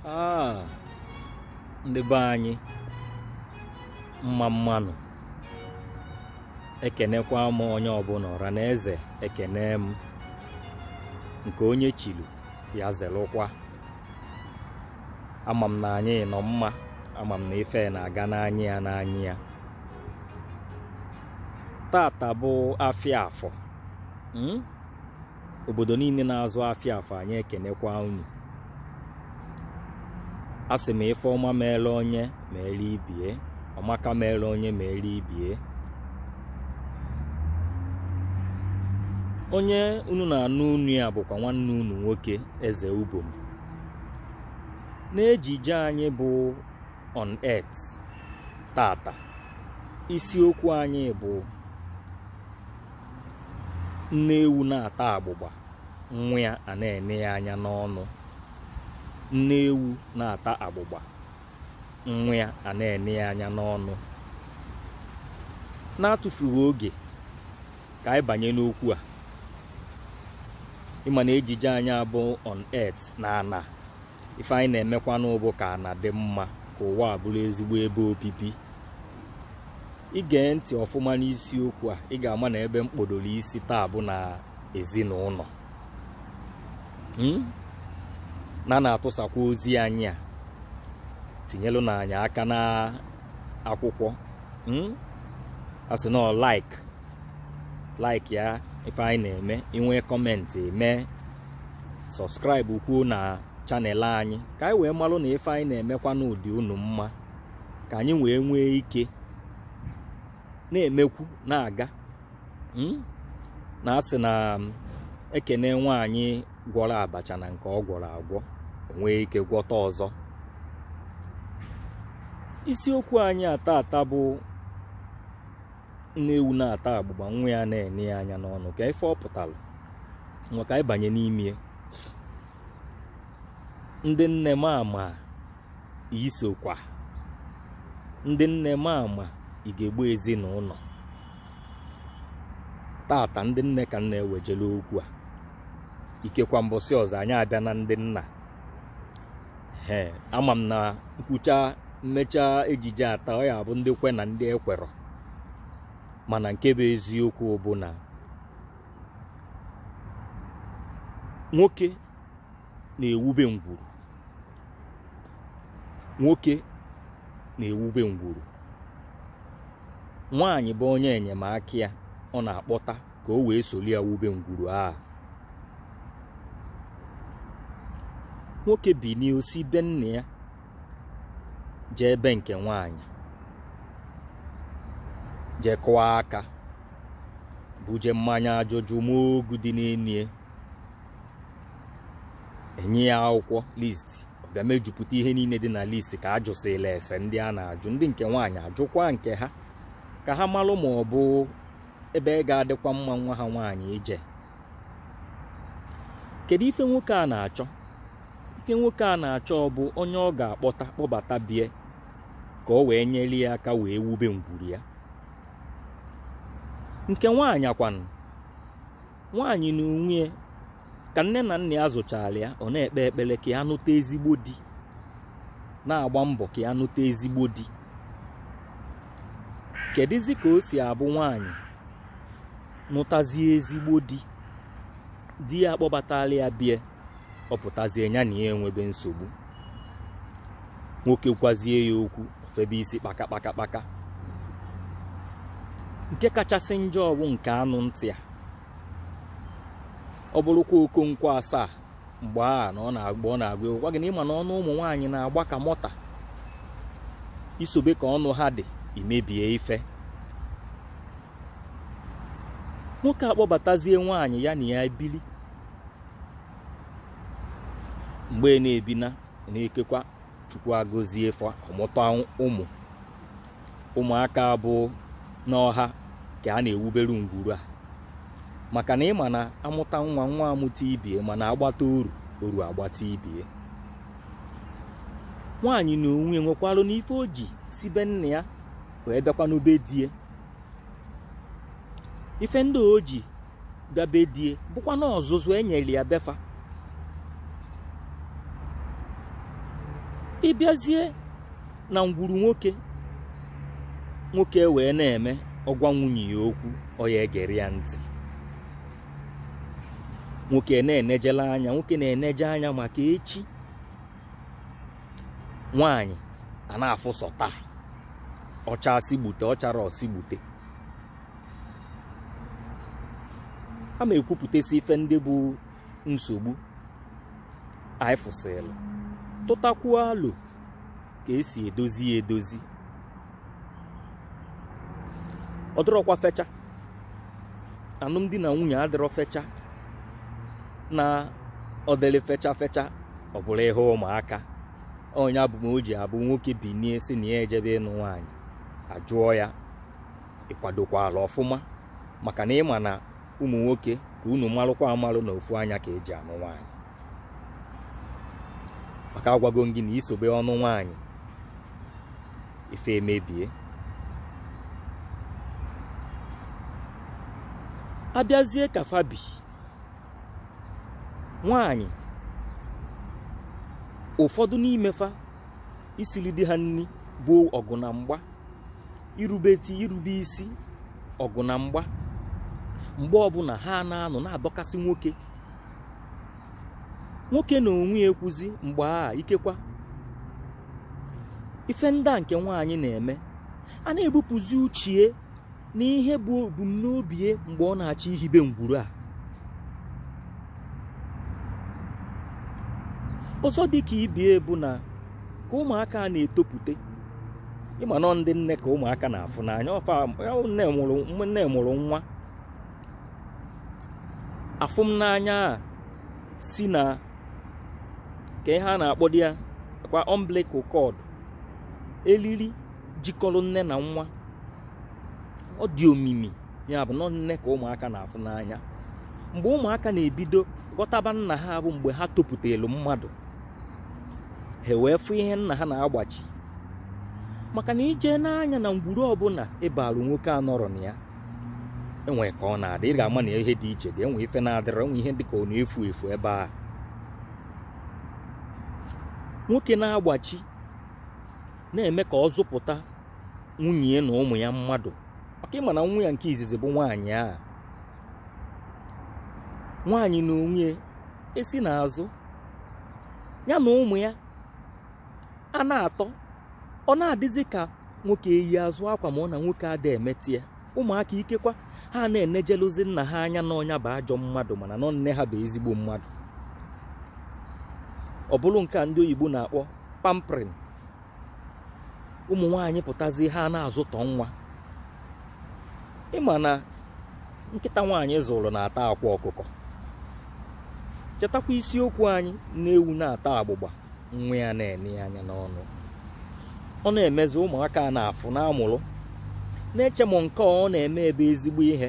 Ah, ndị be anyị mma mma nụ ekenekwa m onye ọbụla ọra na eze ekene m nke onye chilu ya zelụkwa ama m na anyị nọ mma ama m na ife na-aga n'anya ya n'anya ya tata bụ afịa afọ mm? obodo niile na-azụ afịa afọ anyị ekenekwa unu asị m ife ọma meere onye meere ibe ya ọ maka meere onye meere ibe ya onye unu na-anụ onu ya bụkwa nwanne unu nwoke eze ubom n'ejije anyị bụ on earth tata isiokwu anyị bụ nne ewu na-ata agbụgba nwa ya a na-ene ya anya n'ọnụ nne ewu na-ata agbụgba nwa ya a na-ene ya anya n'ọnụ n'atụfughị oge ka anyị banye n'okwu a ị ma na ejije anyị a bụ on earth na ana ife anyị na-emekwanụ bụ ka ana dị mma ka ụwa a bụrụ ezigbo ebe obibi i gee ntị ọfụma n'isiokwu a ị ga-ama na ebe m kpodoro isi taa bụ na ezinụlọ hmm? na na-atụsakwa ozi anyị a tinyelụnụ anyị aka na akwụkwọ hmm? a sị na like like ya ife anyị na-eme i nwee comment mee subscribe kwuo na channel anyị ka anyị wee malụ na ife anyị na-emekwanụ dị unu mma ka anyị wee nwee ike na-emekwu na-aga hmm? na a sị na um, e kene nwaanyị gwọrọ abacha na nke ọ gwọrọ agwọ o nwee ike gwọta ọzọ isiokwu anyị a tata bụ nne ewu na-ata agbụgba nwa ya na-ene ya anya n'ọnụ kee ife ọ pụtara ngwa ka anyị banye n'ime ndị nne mama isokwa ndị nne mama ugegbe ezinụlọ tata ndị nne ka m na-ewejela okwu a ikekwa mbọsị ọzọ anyị abịa na ndị nna ee ama m na m kwuchaa m mechaa ejije a taa ọ ya-abụ ndị kwe na ndị ekwerọ mana nke bụ eziokwu bụ na nwoke na-ewube ngwuru nwoke na-ewube ngwuru nwaanyị bụ onye enyemaka ya ọ na-akpọta ka o wee soli ya wube ngwuru a nwoke binie o si be nna ya jee ebe nke nwaanyị jee kụọ aka buje mmanya ajụjụ ma ogu dị n'enie e nye ya akwụkwọ list ọ bịa mejupụta ihe niile dị na list ka a jụsịla ese ndị a na-ajụ ndị nke nwaanyị ajụkwa nke ha ka ha malụ ma ọ bụ ebe ga-adịkwa mma nwa ha nwaanyị ije kedu ife nwoke a na-achọ ife nwoke a na-achọ bụ onye ọ ga-akpọta kpọbata bie ka o wee nyelu ya aka wee wube ngwuru ya nke nwaanyị a kwanụ nwaanyị na onwe ka nne na nna ya zụchalụ ya ọ na-ekpe ekpele ka ya nụta ezigbo di na-agba mbọ ka ya nụta ezigbo di kedụzi ka o si abụ nwaanyị nụtazie ezigbo di di ya akpọbatala ya bie ọ pụtazie ya na ya enwebe nsogbu nwoke gwazie ya okwu o febe isi kpaka kpaka kpaka nke kachasị njọ bụ nke anụ ntị a ọ bụrụkwa okonkwo asaa mgbe a na ọ na-agba ọ na-agụ egwu gwa gị na ị ma na ọnụ ụmụ nwaanyị na-agba ka mọta i sobe ka ọnụ ha dị i mebie ife nwoke akpọbatazie nwaanyị ya na ya bili mgbe ị na-ebi na na-ekekwa chukwu agọzie fa ọ mụta ụmụ ụmụaka a bụ na ọ ha ka a na-ewubere ngwuru a maka na ị ma na a mụta nwa nwa amụta ibie mana a gbata oru oru agbata ibie nwaanyị na onwe nwekwalụnụ ife o ji si be nna ya wee bịakwanụ be die ife ndị o ji ga be die bụkwanụ ọzụzụ e nyelu ya be fa ị bịazie na ngwuru nwoke nwoke wee na-eme ọ gwa nwunye ya okwu ọ ya-egere ya ntị nwoke na-enejela anya nwoke na-eneje anya maka echi nwaanyị a na-afụ sọ taa ọ chaa sị gbute ọ charọ ọ sị gbute a ma ekwupụtasị ife ndị bụ nsogbu anyị fụsịrị tụtakwuo alo ka e si edozi ya edozi ọ dịrọkwa fecha anụmdi na nwunye adịrọ fecha na ọ dịrị fecha fecha ọ bụrụ ihe ụmụaka ọ nya bụ o ji abụ nwoke binie sị na ya ejebe ịnụ nwaanyị a jụọ ya ịkwadokwa ala ọfụma maka na ịma na ụmụ nwoke ka unu malụkwa amalụ na ofu anya ka eji anụ nwaanyị maka agwago m gị na isobe ọnụ nwaanyị ife emebie abịazie ka fa bụ nwaanyị ụfọdụ n'ime fa isili di ha nni bụ ọgụ na mgba irubeti irube isi ọgụ na mgba mgbe ọbụla ha na-anọ na-adọkasị nwoke nwoke na onwe ya ekwuzi mgbe a ikekwa ife ndị a nke nwaanyị na-eme a na-ebupụzi uche ya n'ihe bụ ebumnobi ya mgbe ọ na-achọ ihibe ngwuru a ọzọ dị ka ibe ya bụ na ka ụmụaka a na-etopụta ịma na ọ ndị nne ka ụmụaka na-afụ n'anya nne mụrụ nwa afụ m n'anya a si n'aka ihe a na-akpọ dị ya kwa umbilical cord elili jikọrọ nne na nwa ọ dị omimi ya bụ na ọ nne ka ụmụaka na-afụ n'anya mgbe ụmụaka na-ebido ghọtaba nna ha bụ mgbe ha topụtelu mmadụ ha wee fụ ihe nna ha na-agbachi maka na ije n'anya na ngwuru ọbụla ị balụ nwoke anọrọ na ya enwe ka ọ na-adị ị ga-ama na ihe dị iche dị enwe ife na-adịrọ enwe ihe dị ka ọ na-efu efu ebe a nwoke na-agbachi na-eme ka ọ zụpụta nwunye na ụmụ ya mmadụ maka ịma na nwa ya nke izizi bụ nwaanyị a nwaanyị na onwe ya esi n'azụ ya na ụmụ ya a na-atọ ọ na-adịzi ka nwoke eyi azụ akwa ma ọ na nwoke ada emetị ya ụmụaka ikekwa ha na-enejeluzi nna ha anya na ọ nya bụ ajọ mmadụ mana na ọ nne ha bụ ezigbo mmadụ ọ bụrụ nke a ndị oyibo na-akpọ pampering ụmụ nwaanyị pụtazi ha na-azụtọ nwa ịma na nkịta nwaanyị zụrụ na-ata akwa ọkụkọ chetakwa isiokwu anyị nne ewu na-ata agbụgba nwa ya na-ene ya anya n'ọnụ ọ na-emezi ụmụaka a na-afụ na-amụrụ na-eche na nke ọ na-eme bụ ezigbo ihe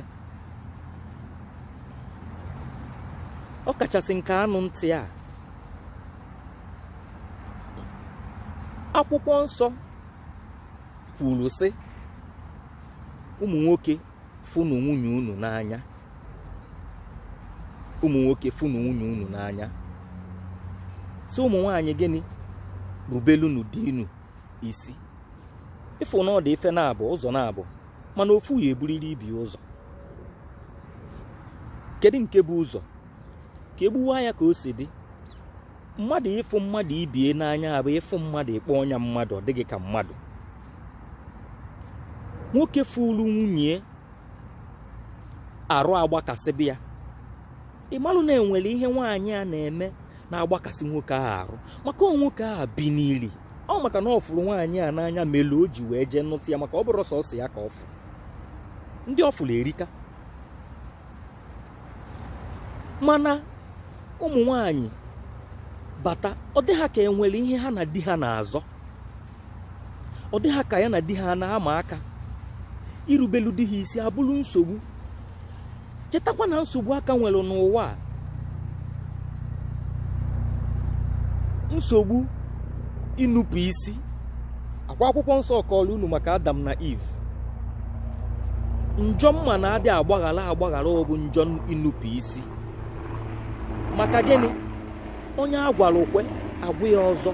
ọ kachasị nke anụ ntị a akwụkwọ nsọ kwuru sị ụmụ nwoke fụnụ nwunye unu n'anya ụmụ nwoke fụnụ nwunye unu n'anya sị ụmụ nwaanyị gịnị rubelunu di unu isi ị fụ na ọ dị ife naabọ ụzọ naabọ mana ofu ya-eburiri ibie ụzọ kedu nke bu ụzọ ka egbuwa ya ka o si dị mmadụ ịfụ mmadụ ibie n'anya bụ ịfụ mmadụ ịkpọ onye a mmadụ ọ dị gị ka mmadụ nwoke fụrụ nwunye arụ agbakasịbe ya ị malụ na enwere ihe nwaanyị a na-eme na-agbakasị nwoke ahụ arụ maka ọ nwoke ahụ binili ọ maka na ọ fụrụ nwaanyị a n'anya melu o ji wee jee nụta ya maka ọ bụrọ sọsọ ya ka ọ fụ ndị ọ fụrụ erika mana ụmụ nwaanyị bata ọ dị ha ka enwere ihe ha na di ha na-azọ ọ dị ha ka ya na di ha na-ama aka irubelu di ha isi abụrụ nsogbu chetakwa na nsogbu a ka nwere n'ụwa a nsogbu inupu isi ọ kwa akwụkwọ nsọ kọọrọ unu maka adam na eve njọ m ma na adị agbaghara agbaghara ọ bụ njọ inupu isi maka gịnị onye agwara o kwe agwa ya ọzọ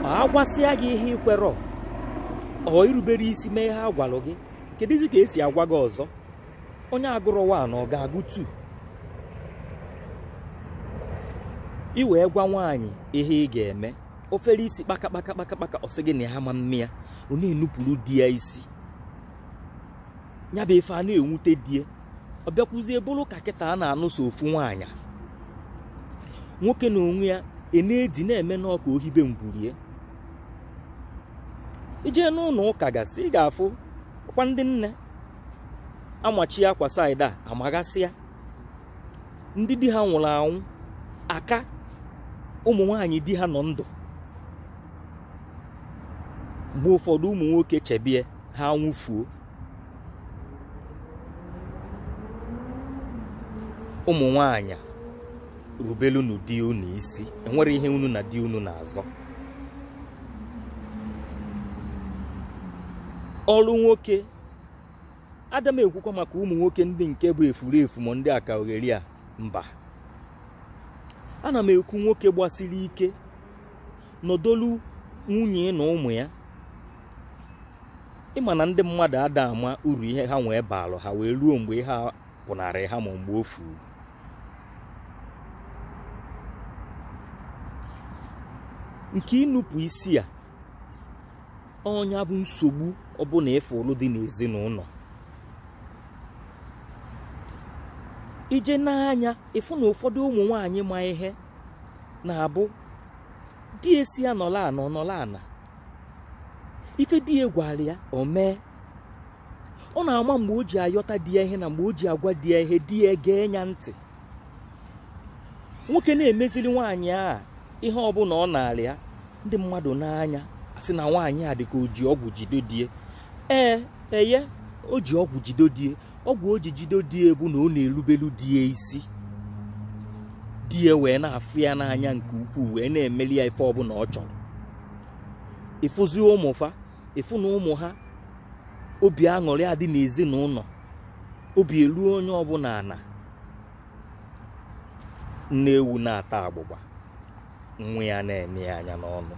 ọ agwasịa gị ihe i kwerọ irubere isi mee ihe agwalụ gị kedụzi ka esi agwa gị ọzọ onye agụrọ one ọ ga-agụ two i wee gwa nwaanyị ihe ị ga-eme o fere isi kpaka kpaka kpaka kpaka ọ sị gị na ya ama mme ya ọ na-enupuru di ya isi ya bụ ife a na-enwute die ọ bịakwuzie bụrụ ka kịta a na-anụ sọ ofu nwaanyị nwoke n'onwe ya ana-edi na-eme n'ọka ohibe ngwurie i jee n'ụlọ ụka gasị ị ga-afụ ọkwa ndị nne amachie akwa side a amagasịa ndị di ha nwụrụ anwụ aka ụmụ nwaanyị di ha nọ ndụ mgbe ụfọdụ ụmụ nwoke chebie ha anwụfuo ụmụ nwaanyị rubelunu di unu isi enwere ihe unu na di unu na-azọ ọrụ nwoke ada m ekwukwa maka ụmụ nwoke ndị nke bụ efurefu ma ndị akaogheri a mba ana m ekwu nwoke gbasiri ike nọdolu nwunye na ụmụ ya ị ma na ndị mmadụ ada ama uru ihe ha nwee baalụ ha wee ruo mgbe ihe a pụnarị ha mọ mgbe o furu nke inupu isi a ọ nya bụ nsogbu ọbụla ị fụlụ dị n'ezinụlọ i jee nee anya ị fụ na ụfọdụ ụmụ nwanyị ma ihe na-abụ di asị ya nọlụ ana ọ nọlụ ana ife di ya gwara ya o mee ọ na-ama mgbe o ji ayọta di ya ihe na mgbe o ji agwa di ya ihe di ya gee ya ntị nwoke na-emezili nwaanyị a ihe ọbụla ọ na-arịọ ya ndị mmadụ nee anya asị na nwaanyị a dịka o ji ọgwụ jido die ee eye o ji ọgwụ jido die ọgwụ o ji jido die bụ na ọ na-erubelu die isi die wee na-afụ ya n'anya nke ukwuu wee na-emeli ya ife ọbụla ọ chọrọ ị fụzie ụmụ fa ị fụ na ụmụ ha obi aṅụrị adị n'ezinụlọ obi eluo onye ọbụla ana nne ewu na-ata agbụgba nwa ya na-ene ya anya n'ọnụ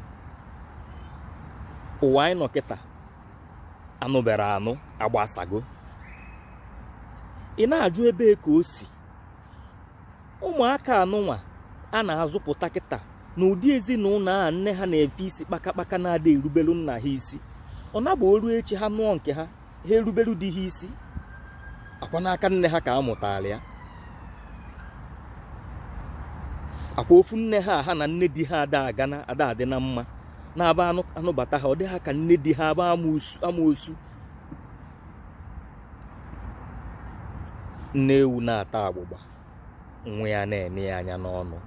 ụwa anyị nọ kịta anụbere anụ agbasago ị na-ajụ ebee ka o si ụmụaka anụnwa a na-azụpụta kịta n'ụdị ezinụlọ a nne ha na-efe isi kpakakpaka na-ada erubelu nna ha isi ọ na-abụ o ruo echi ha nụọ nke ha ha erubelu di ha isi ọ kwa n'aka nne ha ka a mụtara ya ọ kwa ofu nne ha ha na nne di ha ada aga na ada adị na mma na-abụ a nụbata ha ọ dị ha ka nne di ha abụ amoosu nne ewu na-ata agbụgba nwa ya na-ene ya anya n'ọnụ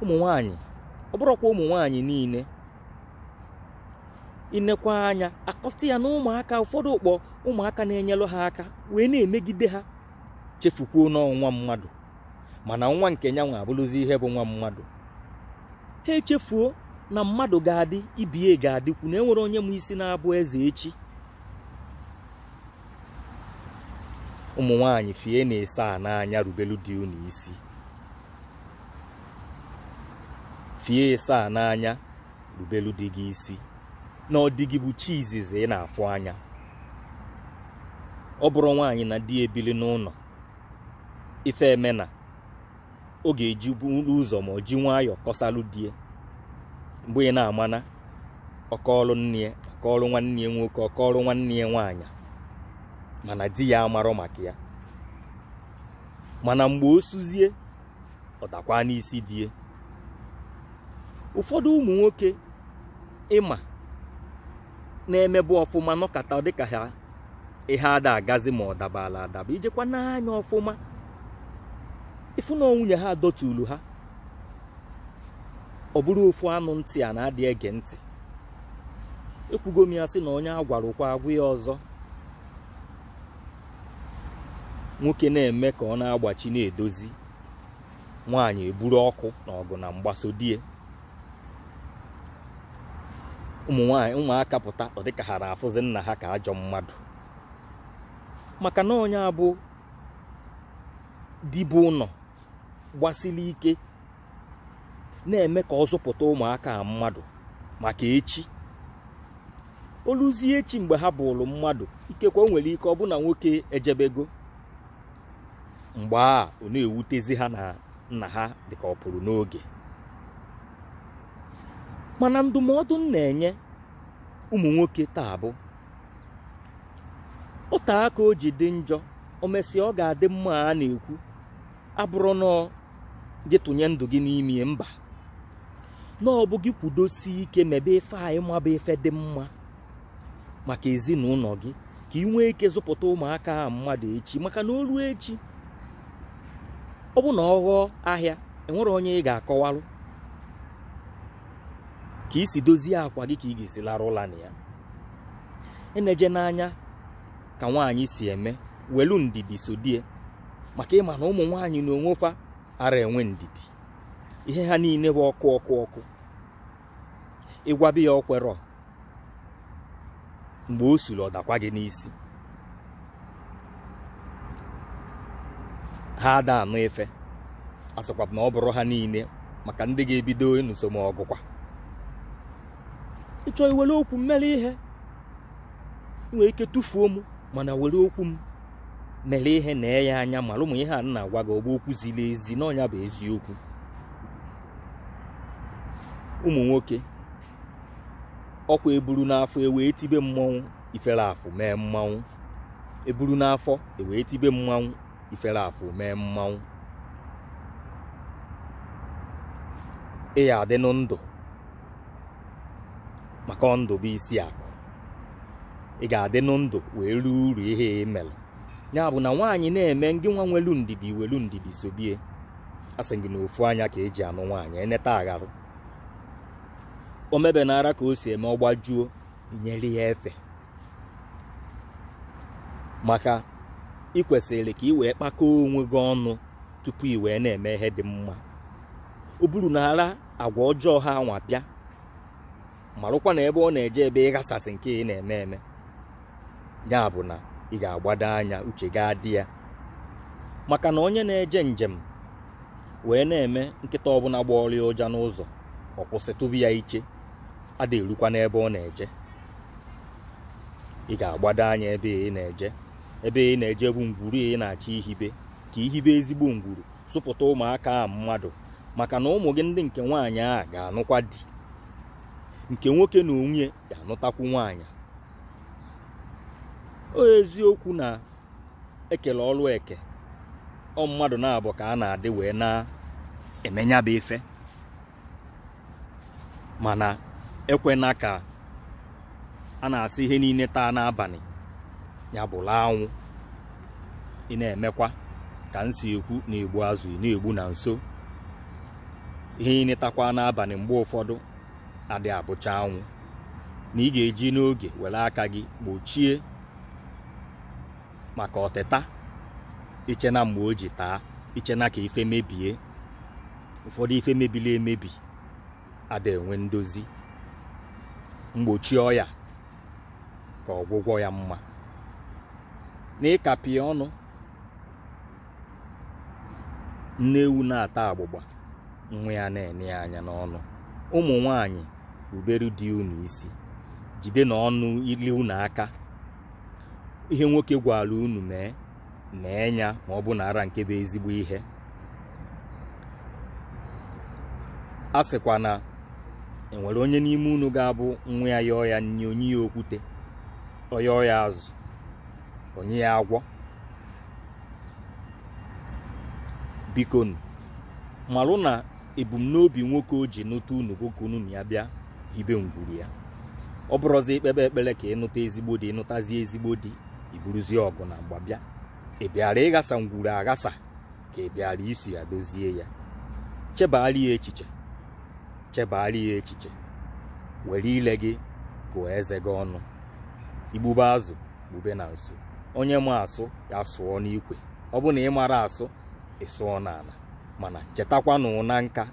ụmụ nwanyị ọ bụrọkwa ụmụ nwanyị niile i nekwaa anya akọta ya na ụmụaka ụfọdụ akpọ ụmụaka na-enyelụ ha aka wee na-emegide ha chefukwuo na ọ bụ nwa mmadụ mana nwa nke ya nwa abụrụzi ihe bụ nwa mmadụ ha echefuo na mmadụ ga-adị ibe ya ga-adịkwu na enwerọ onye ma isi na-abụ eze echi ụmụ nwanyị fie na-ese a n'anya rubelu di unu isi fie ese a n'anya rubelu di gị isi na ọ di gị bụ chi izizi ị na-afụ anya ọ bụrụ nwaanyị na di ebili n'ụlọ ife emena ọ ga-eji buru ụzọ ma ọ ji nwayọọ kọsalụ die mgbe ị na-ama na ọ kọọlụ nne ya ọ kọọlụ nwanne ya nwoke ọ kọọlụ nwanne ya nwaanyị mana di ya amarọ maka ya mana mgbe o suzie ọ dakwa n'isi die ụfọdụ ụmụ nwoke ị ma na-emebu ọfụma nọkata ọ dịka ha ihe ada agazi ma ọ dabala adaba i jekwa nee anya ọfụma ị fụ na nwunye ha dọtulu ha ọ bụrụ ofu anụ ntị a na-adị ege ntị ekwugo m ya sị na onye agwara o kwe agwa ya ọzọ nwoke na-eme ka ọ na-agbachi na-edozi nwaanyị eburu ọkụ na ọgụ na mgba sodie ụmụ nwaanyị ụmụaka pụta ọ dịka ha na-afụzi nna ha ka ajọ mmadụ maka na onye a bụ di bu ụlọ gbasiri ike na-eme ka ọ zụpụta ụmụaka a mmadụ maka echi o luzie echi mgbe ha bụrụ mmadụ ikekwe o nwere ike ọ bụ na nwoke ejebego mgbe a ọ na-ewutezi ha na nna ha dịka ọ pụrụ n'oge mana ndụmọdụ m na-enye ụmụ nwoke taa bụ o te aka o ji dị njọ o mesịa ọ ga-adị mma a na-ekwu abụrọ na gị tụnye ndụ gị n'ime mba na ọ bụ gị kwudosie ike mebe ife anyị ma bụ ife dị mma maka ezinụlọ gị ka ị nwee ike zụpụta ụmụaka ahụ mmadụ echi maka na o ruo echi ọ bụ na ọ ghọọ ahịa enwere onye ị ga-akọwalụ ka i si dozie akwa gị ka ị ga-esi larụ ụla na ya enejena anya ka nwaanyị si eme welu ndidi sodie maka ị ma na ụmụ nwaanyị na onwe fa ara enwe ndidi ihe ha niile bụ ọkụ ọkụ ọkụ ị gwabi ya o kwerọ mgbe o suru ọ dakwa gị n'isi ha ada anụ ife asịkwa na ọ bụrọ ha niile maka ndị ga-ebido ịnụso m ọgụkwa ị chọọ iwere okwu m mere ihe ị nwere ike tụfuo m mana were okwu m mere ihe nee ya anya mara ụmụ ihe a na-agwa gị ọ bụ okwu ziri ezi na ọ nya bụ eziokwu ụmụ nwoke ọkwa eburu n'afọ ewee tibe mmanwụ ifere afụ mee mmanwụ eburu n'afọ ewee tibe mmanwụ ifere afụ mee mmanwụ ị ya adịnụ ndụ maka ndụ bụ isi akụ ị ga-adịnụ ndụ wee rie uru ihe ị mere ya bụ na nwaanyị na-eme ngị nwa nwelu ndidi welu ndidi sobie a sị gị na ofu anya ka eji anụ nwaanyị eneta agharụ o mebe na ara ka o si eme ọ gbajuo nyere ya efe maka ị kwesịrị ka ị wee kpakọọ onwe gị ọnụ tupu ị wee na-eme ihe dị mma o buru na ara agwa ọjọọ a nwa bịa marụkwa na ebe ọ na-eje ebe ịghasasị nke ị na-eme eme ya bụ na ị ga-agbado anya uche gị adị ya maka na onye na-eje njem wee na-eme nkịta ọbụla gbọọrọ ya ụja n'ụzọ ọ kwụsị tụbe ya iche adị erukwa n'ebe ọ na-eje ị ga-agbado anya ebe ị na-eje ebe ị na-eje bụ ngwuru ị na-achọ ihibe ka i hibe ezigbo ngwuru zụpụta ụmụaka a mmadụ maka na ụmụ gị ndị nke nwaanyị a ga-anụkwa di nke nwoke na onwe ya anụtakwu nwaanyị ọ eziokwu na e kele ọrụ eke ọ mmadụ naabọ ka a na-adị wee na-eme nya bụ ife mana ekwena ka a na-asị ihe niile taa n'abalị ya bụrụ anwụ ị na-emekwa ka m si ekwu na-egbu azụ ị na-egbu na nso ihe niile takwa n'abalị mgbe ụfọdụ adị abụcha anwụ na ị ga-eji n'oge were aka gị gbochie maka ọtịta echena mgbe o ji taa echena ka ife mebie ụfọdụ ife mebiri emebi ada enwe ndozi mgbochi ọya ka ọgwụgwọ ya mma na ịkapị ọnụ nne ewu na-ata agbụgba nwa ya na-ene ya anya n'ọnụ ụmụ nwaanyị ruberu di unu isi jide na ọnụ ile unu aka ihe nwoke gwara unu mee mee ya ma ọ bụ na ara nke bụ ezigbo ihe a sịkwa na e nwere onye n'ime unu ga-abụ nwa ya yọọ ya nri o nye ya okwute ọ yọọ ya azụ o nye ya agwọ biko marụ na ebumnobi nwoke o ji nụta unu bụ ka unu na ya bịa hibe ngwuru ya ọ bụrụzi i kpebe ekpere ka ị nụta ezigbo di ị nụtazi ezigbo di i buruzie ọgụ na mgba bịa ị bịara ịghasa ngwuru aghasa ka ị bịara isi ya dozie ya chebara ya echiche chebara ya echiche were ile gị gụọ eze gị ọnụ i gbube azụ kpube na nso onye ma asụ ya sụọ n'ikwe ọ bụ na ị mara asụ ị sụọ n'ala mana chetakwanụ na nka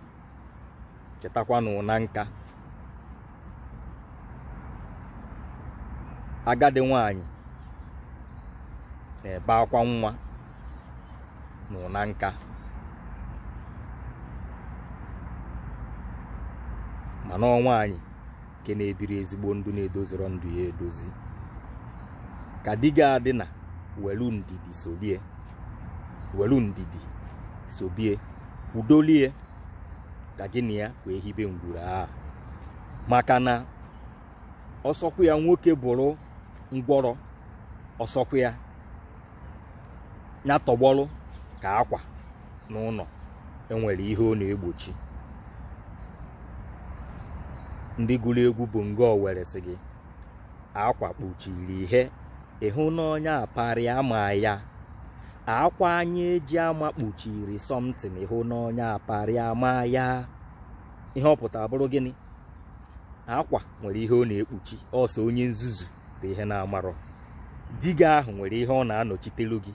chetakwanụ na nka agadi nwanyị na-ebe akwa nwa n'ụna nka mana ọ nwanyị nke na-ebiri ezigbo ndụ na-edozirọ ndụ ya edozi ka di gị adị na welu ndidi sobie welu ndidi sobie kwudolie ka gị na ya wee hibe ngwuru a maka na ọsọkwa ya nwoke bụrụ ngwọrọ ọsọkwa ya ya tọgbọrọ ka akwa n'ụlọ enwere ihe ọ na-egbochi ndị gụrụ egwu bongo owere sị gị akwa kpuchiri ihe ịhụ n'onye aparị ama ya akwa anyị eji ama kpuchiri something ịhụ n'onye aparị ama ya ihe ọ pụtara bụrụ gịnị akwa nwere ihe ọ na-ekpuchi ọ sọ onye nzuzu bụ ihe na-amarọ di gị ahụ nwere ihe ọ na-anọchitelu gị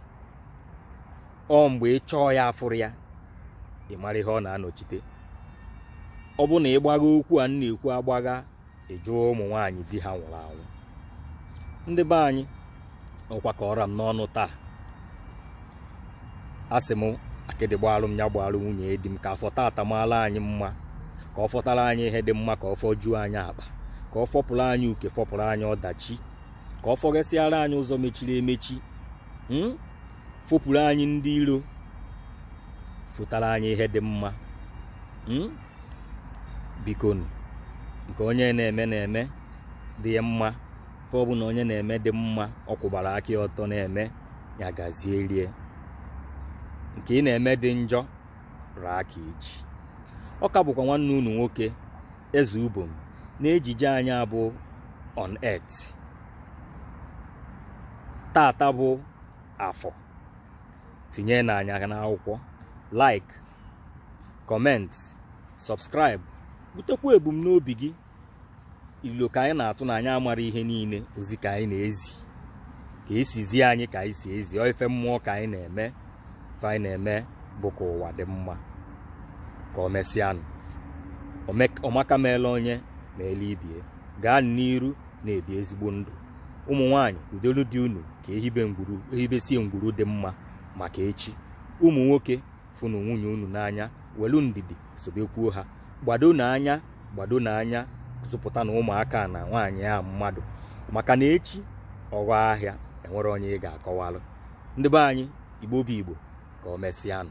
ọ mgbe ị chọọ ya afụrụ ya ị mara ihe ọ na-anọchite ọ bụ na ị gbagha okwu a na-ekwu agbagha ị jụọ ụmụ nwaanyị di ha nwụrụ anwụ ndị be anyị ọ kwa ka ọ ra m n'ọnụ taa asị m akịdị gbaalụ m ya gbaalụ nwunye di m ka afọ tata maala anyị mma ka ọ fọtara anyị ihe dị mma ka ọ fọjuo anyị akpa ka ọ fọpụrụ anyị uke fọpụrụ anyị ọdachi ka ọ fọghesịara anyị ụzọ mechiri emechi hmm? fọpụrụ anyị ndị iro fọtara anyị ihe dị mma hmm? bikonu nke onye na-eme na-eme dị ya mma fe ọ bụla onye na-eme dị mma ọ kwụbara aka ọtọ na-eme ya gazierie nke ị na-eme dị njọ ra aka iji ọ ka bụkwa nwanne unu nwoke eze ubom na ejije anyị a bụ on earth tata bụ afọ tinyenụ anya n'akwụkwọ like comment subscribe butekwa ebumnobi gị ilo ka anyị na-atụ na anyị amara ihe niile ozi ka anyị na-ezi ka e si zi anyị ka anyị si ezi ọ ife mmụọ ka anyị na-eme fe anyị na-eme bụ ka ụwa dị mma ka o mesịanụ ọmaka meelu onye meelu ibie gaa n'iru na-ebi ezigbo ndụ ụmụ nwaanyị kwudolu di unu ka ehibesie ngwuru dị mma maka echi ụmụ nwoke fụnụ nwunye unu n'anya welu ndidi sobekwuo ha gbadonụ anya gbadonụ anya zụpụtanụ ụmụaka na nwaanyị a mmadụ maka na echi ọ ghọọ ahịa enwerọ onye ị ga-akọwalụ ndị be anyị igbo bụ igbo ka o mesịanụ